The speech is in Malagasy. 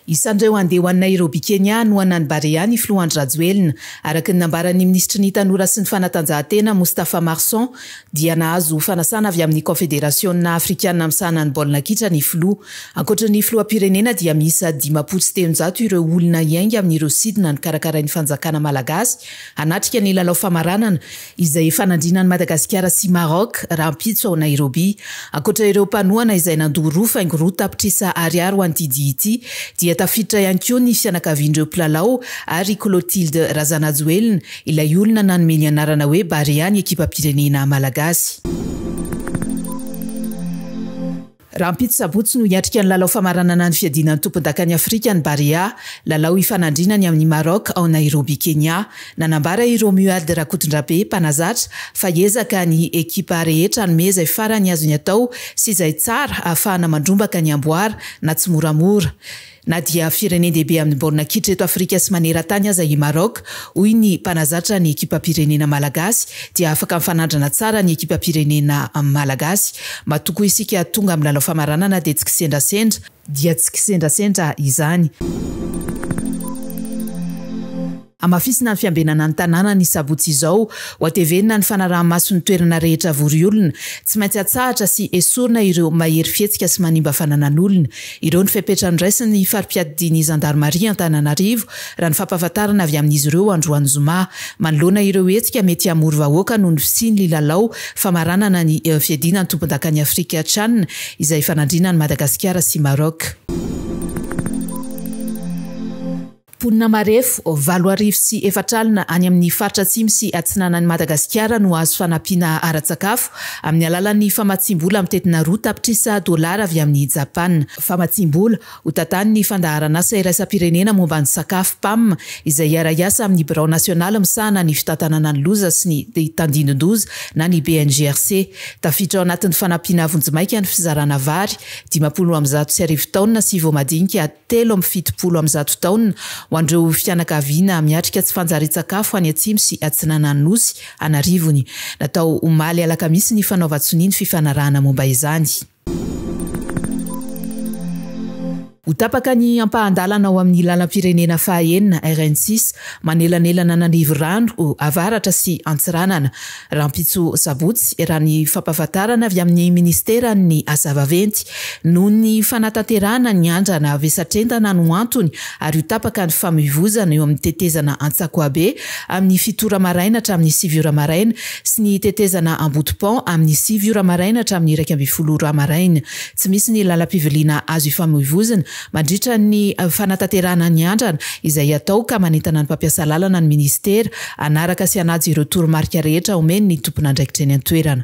Isan'ireo handeha ho any Nairobi, Kenya no anan'i Barea ny filoha Andry Rajoelina. Araka ny nambaran'ny minisitry ny Tanora sy ny fanatanjahantena, Moustapha Marson, dia nahazo fanasana avy amin'ny Kaonfederasiona afrikana misahana ny baolina kitra ny filoha. Ankoatry ny filoham-pirenena dia miisa dimampolo sy telonjato ireo olona hiainga amin'ireo sidina nokarakarain'ny fanjakana malagasy hanatrika ny lalao famaranana izay hifanandrinan'i Madagasikara sy Maroc rahampitso ao Nairobi. Ankoatra ireo mpanohana izay nandoa roa faingo roa tapitrisa ariary ho an'ity dihy ity dia tafiditra ihany koa ny fianakavian'ireo mpilalao ary i Clotilde Razanajoelina ilay olona nanome ny anarana hoe Barea ny ekipam-pirenena malagasy. Rahampitso sabotsy no hiatrika ny lalao famaranana ny fiadiana ny tompondakan'i Afrika ny Barea, lalao hifanandrinany ny amin'i Maroc ao Nairobi Kenya. Nanambara i Romuald Rakotondrabe, mpanazatra, fa hiezaka ny ekipa rehetra hanome izay farany azony atao sy izay tsara ahafahana mandrombaka ny amboara na tsimoramora. Na dia firenen-dehibe amin'ny baolina kitra eto Afrika sy maneran-tany aza i Maroc, hoy ny mpanazatra ny ekipam-pirenena malagasy, dia afaka mifanandrina tsara ny ekipam-pirenena malagasy. Matoa koa isika tonga amin'ny lalao famaranana dia tsy kisendrasendra. Dia tsy kisendrasendra izany. Hamafisina ny fiambenana ny tanàna ny sabotsy izao. Hohatevenina ny fanaraha-maso ny toerana rehetra vory olona. Tsy maintsy atsahatra sy esorina ireo mahery fihetsika sy manimba fananan'olona. Ireo ny fepetra noraisin'ny fari-piadidian'ny zandarimaria Antananarivo, raha ny fampahafantarana avy amin'izy ireo androany zoma. Manoloana ireo hetsika mety hamory vahoaka noho ny fisian'ly lalao famaranana ny fiadiana ny tompondakan'i Afrika Chan izay ifanandrinan'i Madagasikara sy Maroc. Mponina marefo valo arivo sy efatra alina any amin'ny faritra atsimo sy atsinanan'i Madagasikara no hahazo fanampiana ara-tsakafo amin'ny alalan'ny famatsiam-bola mitetina roa tapitrisa dolara avy amin'i Japana. Famatsiam-bola ho tantanin'ny Fandaharanasa Iraisam-pirenena momba ny Sakafo, Pam, izay hiara-hiasa amin'ny Birao Nasionaly misahana ny fitantanana ny loza sy ny tandindon-doza na ny BNGRC. Tafiditra ao anatin'ny fanampiana vonjimaika ny fizarana vary dimampolo amby zato sy arivo taonina sy voamadinika telo amby fitopolo amin'ny zato taona, ho an'ireo fianakaviana miatrika tsy fanjarian-tsakafo any atsimo sy atsinanan'ny Nosy an'arivony. Natao omaly alakamisy ny fanaovan-tsonia ny fifanarahana momba izany. Ho tapaka ny ampahan-dalana ao amin'ny lalam-pirenena faha enina, RN six, manelanelana an'Andivorano, avaratra, sy Antsiranana. Rahampitso sabotsy, raha ny fampahafantarana avy amin'ny Ministeran'ny Asa Vaventy, noho ny fanatanterahana ny andrana vesatr'entana no antony ary ho tapaka ny famoivozana eo amin'ny tetezana Antsakoabe amin'ny fito ora maraina hatramin'ny sivy ora maraina sy ny tetezana Ambotopont amin'ny sivy ora maraina hatramin'ny iraika ambin'ny folo ora maraina tsy misy ny lalam-piviliana azo ifamoivozina Mandritra ny fanatanterahana ny andrana, izay atao ka manentana ny mpampiasa lalana ny minisitera hanaraka sy hanaja ireo toromarika rehetra omeny ny tompon'andraikitra eny an-toerana.